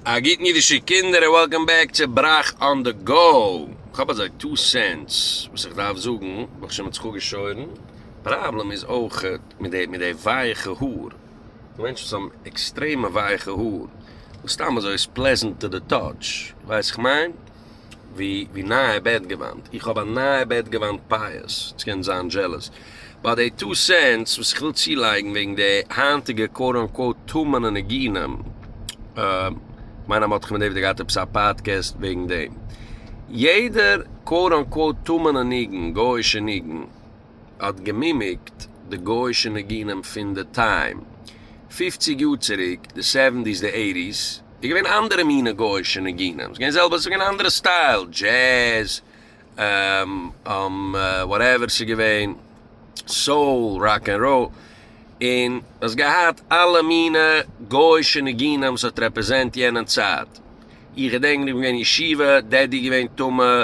א גוטן אידישע קינדער און וועלקאם בעק צו בראך אן די גאו. כ'האב אזוי טו סענטס וואס איך דארף זאגן, וואלט איך שוין מיט זיך אפגעשוירן. פראבלעם איז אויכעט מיט די מיט די ווייעכע האר. די מענטשן וואס האבן עקסטרעמע ווייעכע האר, וואס סתם אזוי איז פלעזענט טו די טאטש. ווייסט איך מיין? ווי נייע בעט געוואנט, איך האב א נייע בעט געוואנט פייערס, סקען זיין דזשעלעס ביי די טו סענטס וואס איך וויל צולייגן וועגן די היינטיגע קוואוט אן קוואוט טמא'נע ניגונים, כ'מיין אז מ'האט דאך מ'דעוודער געהאט עפעס א פאדקעסט וועגן דעם, יעדער קוואוט אן קוואוט טמא'נע ניגון, גוי'אישע ניגון, האט געמימיקט די גויאישע ניגונים פון די טיים פֿופֿציק יאר צוריק די סעווענטיס די עיטיס איז געווען אנדערע מינע גויאישע ניגונים ס'געווען זעלבע ס'געווען אנדערע סטייל דזשעז וואטעווער ס'געווען סאול ראק ענד ראל און האסט געהאט אלע מינע גויאישע ניגונים וואס האט רעפרעזענט יענע צייט איך געדענק איך בין געווען אין ישיבה דעדי איז געווען טמא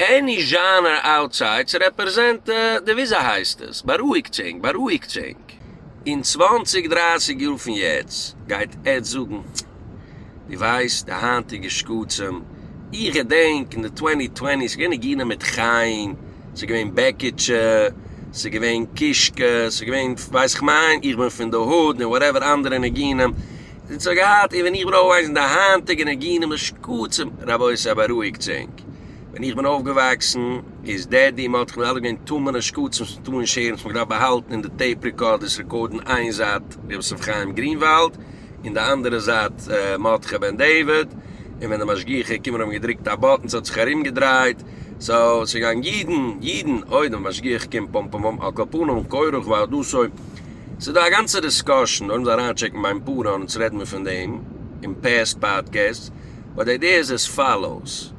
עני זשאנער אוטסיידס רעפרעזענט די וויזאהייסטעס בארואיגטזינג בארואיגטזינג. אין צוואנציג דרייסיג יאר פון יעצט גייט עטץ זאגן דו ווייסט די היינטיגע שקצים איך געדענק אין די טווענטי טווענטי ס'געווען ניגונים מיט חיים ס'געווען בעקיטשע ס'געווען קישקע ס'געווען ווייסעכמיין איך בין פון די הוד און וואטעווער אנדערע ניגונים זי האט געהאט, און ווען איך בין אויפגעוואקסן די היינטיגע ניגונים און שקצים, רבותי בארואיגטס ענק, ווען איך בין אויפגעוואקסן איז דעדי מ'האט דאך אלעס געווען טמא'נע שקצים צום טאן שערן וואס מ'האט געדארפט באהאלטן אין די טעיפ רעקארדערס רעקארדן איין זייט ר' יוסף חיים גרינוואלד און די אנדערע זייט מרדכי בן דוד און ווען די משגיחי כומר האבן געדרוקט א באטן ס'האט זיך ארומגעדרייט סאו ס'גייען יעדן יעדן אוידעם משגיח קום פום פום פום על כל פנים כורח ועד עשוי ס'איז דא א גאנצע דיסקאשען נאר אונז אריינטשעקן ביים פארא אונז רעדן מיר פון דעם אין פעסט פאדקעסטס באט די איידיע איז עס פאלאוס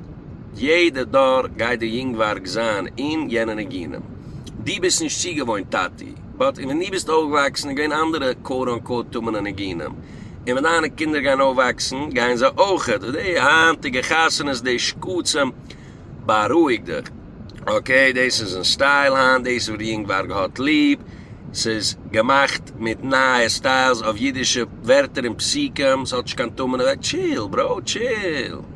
יעדע דור גייט די יונגווארג זיין אין יענע ניגונים די ביסט נישט צוגעוואוינט טאטי באט ווען די ביסט אויפגעוואקסן איז געווען אנדערע קאוט אן קאוט טמא'נע ניגונים און ווען דיינע קינדער גייען אויפוואקסן גייען זיי אויך, די היינטיגע חתונות די שקצים, בארואיג דיך אקעי, דאס איז אין סטייל היינט, דאס איז וואס די יונגווארג האט ליב, ס'איז געמאכט מיט נייע סטיילס אויף אידישע ווערטער און פסוקים, ס'האט נישט קיין טעם און עוועקט, טשיל בראו טשיל.